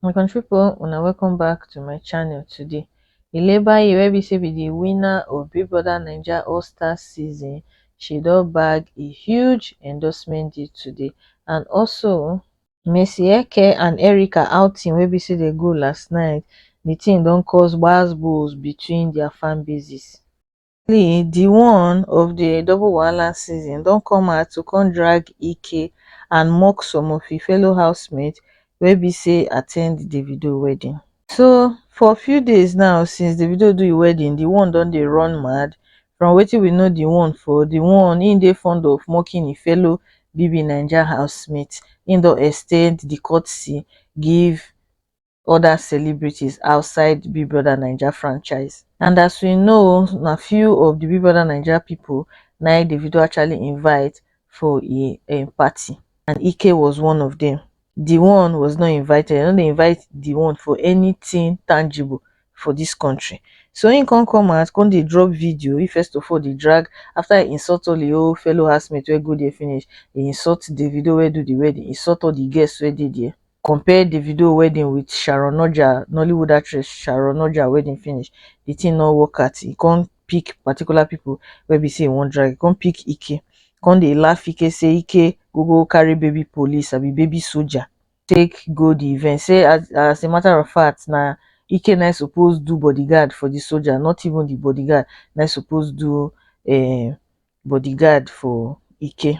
my country people una welcome back to my channel today ilebaye wey be say be the winner of big brother naija all star season she don bag a huge endorsement deal today and also Mercy Eke and Erica outing wey be say dey go last night the thing don cause gbas gbos between their fan bases finally di one of di double wahala season don come out to come drag ike and mock some of im fellow housemates wey be say at ten d davido wedding so for few days now since davido do im wedding di one don dey run mad from wetin we know di one for di one im dey fond of mocking im fellow bbnaija housemates im don ex ten d di courtesy give other celebrities outside the Big Brother Naija franchise. And as we know, na few of the Big Brother Naija people na Davido actually invite for a, a party, and Ike was one of them. The one was not invited. I no dey invite the one for anything tangible for this country. So he come come out, come dey drop video. He first of all dey drag after he insult all the old fellow housemates wey go there finish. He insult Davido wey do the wedding, insult all the guests wey dey there. compare davido wedding with sharon oja nollywood actress sharon oja wedding finish the thing no work at e come pick particular people wey be say e wan drag e come pick ike come dey laugh ike say ike go go carry baby police abi baby soldier take go the event say as as a matter of fact na ike na im suppose do bodyguard for the soldier not even the bodyguard na im suppose do um bodyguard for ike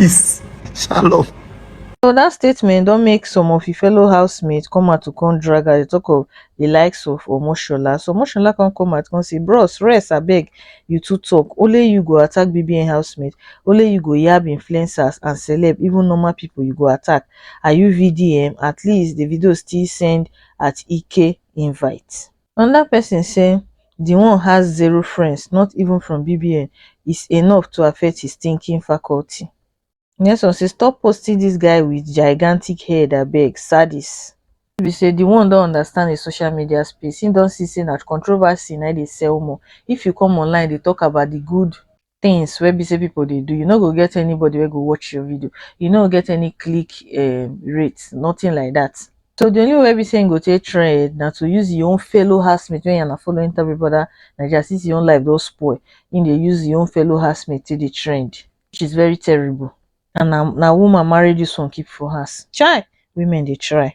peace, shalom. So dat statement don make some of im fellow housemates come out to come drag her, dey talk of di likes of Omoshola. So Omoshola come come out come say, bros rest abeg, you too talk, only you go attack BBN housemates, only you go yab influencers and celeb, even normal people you go attack, are you VDM, at least Davido still send at Ike invite. anoda pesin say di one has zero friends not even from bbn is enough to affect his thinking faculty nyesom say stop posting dis guy wit gigantic head abeg sadis truth be say di one don understand di social media space im don see say na controversy na dey sell more if you come online dey tok about di good things wey be say people dey do you no go get anybody wey go watch your video you no go get any click um, rate nothing like that so the only way be saying go take trend now to use your own fellow housemate when you're following enter big brother naija since your own life don't spoil in dey use your own fellow housemate to the trend which is very terrible and now na woman marry this one keep for house chai women they try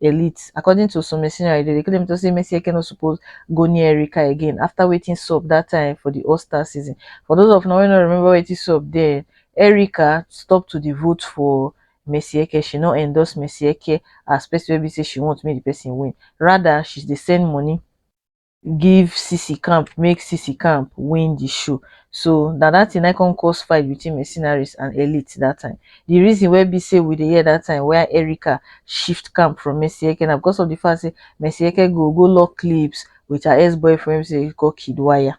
elite. According to some mercenaries, they claim to say Messi Eke no suppose go near Erika again after waiting sub that time for the All-Star season. For those of now who don't remember waiting sub then, Erika stopped to the vote for Messi Eke. She not endorse Messi Eke as person wey be say she want make the person win. Rather, she dey send money give sisi camp make sisi camp win the show so na that thing na come cause fight between mercenaries and elite that time the reason wey be say we dey hear that time where Erica shift camp from Mercy Eke na because of the fact say Mercy Eke go go lock clips with her ex-boyfriend say he call Kid Wire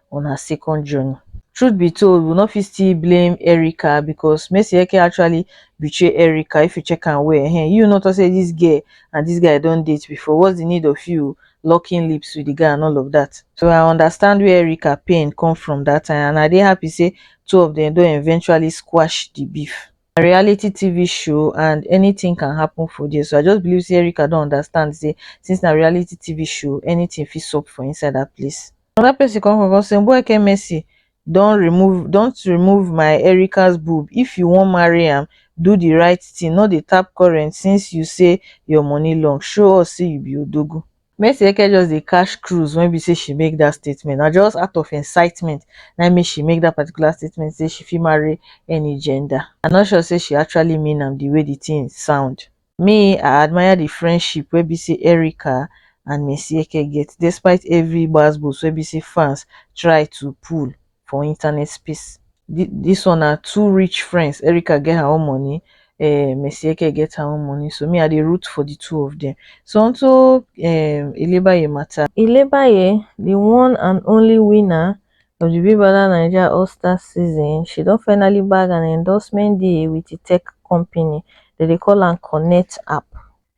una second journey. Truth be told, we no fit still blame Erica because Mesieke actually betray Erica if you check am well. Ehen, you no talk say this girl and this guy don date before. What's the need of you locking lips with the guy and all of that? So I understand where Erica pain come from that time and I dey happy say two of them don eventually squash the beef. na reality TV show and anything can happen for there so I just believe say Erica don understand say since na reality TV show anything fit sup for inside that place. Another person come come come say Mbueke Mercy don remove don't remove my Erica's boob if you wan marry am do the right thing no dey tap current since you say your money long show us say you be odogu. Mercy Eke just dey catch cruise when be say she make that statement. Na just out of incitement na im make she make that particular statement say she fit marry any gender. I no sure say she actually mean am the way the thing sound. Me, I admire the friendship wey be say Erica and Mercy Eke get despite every gbas gbos wey be say fans try to pull. for internet space. Dis one na two rich friends, Erica get her own money um Mesieke get her own money so me I dey root for the two of them. So on to um Ilebaye matter. Ilebaye, the one and only winner of the Big Brother Naija All Stars season, she don finally bag an endorsement deal with the tech company, dem dey call am Connect app.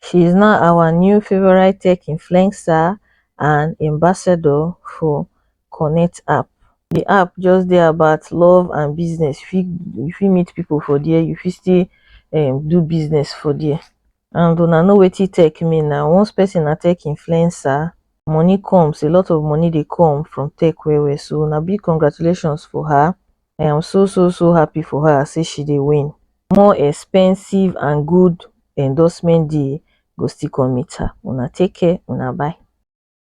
She is now our new favourite tech influencer and ambassador for connect app the app just dey about love and business fit you fit meet people for there you fit still um do business for there and una know wetin tech mean na once person na tech influencer money comes a lot of money dey come from tech well well so na big congratulations for her i am so so so happy for her say she dey win more expensive and good endorsement deal go still come meet her una take care una bye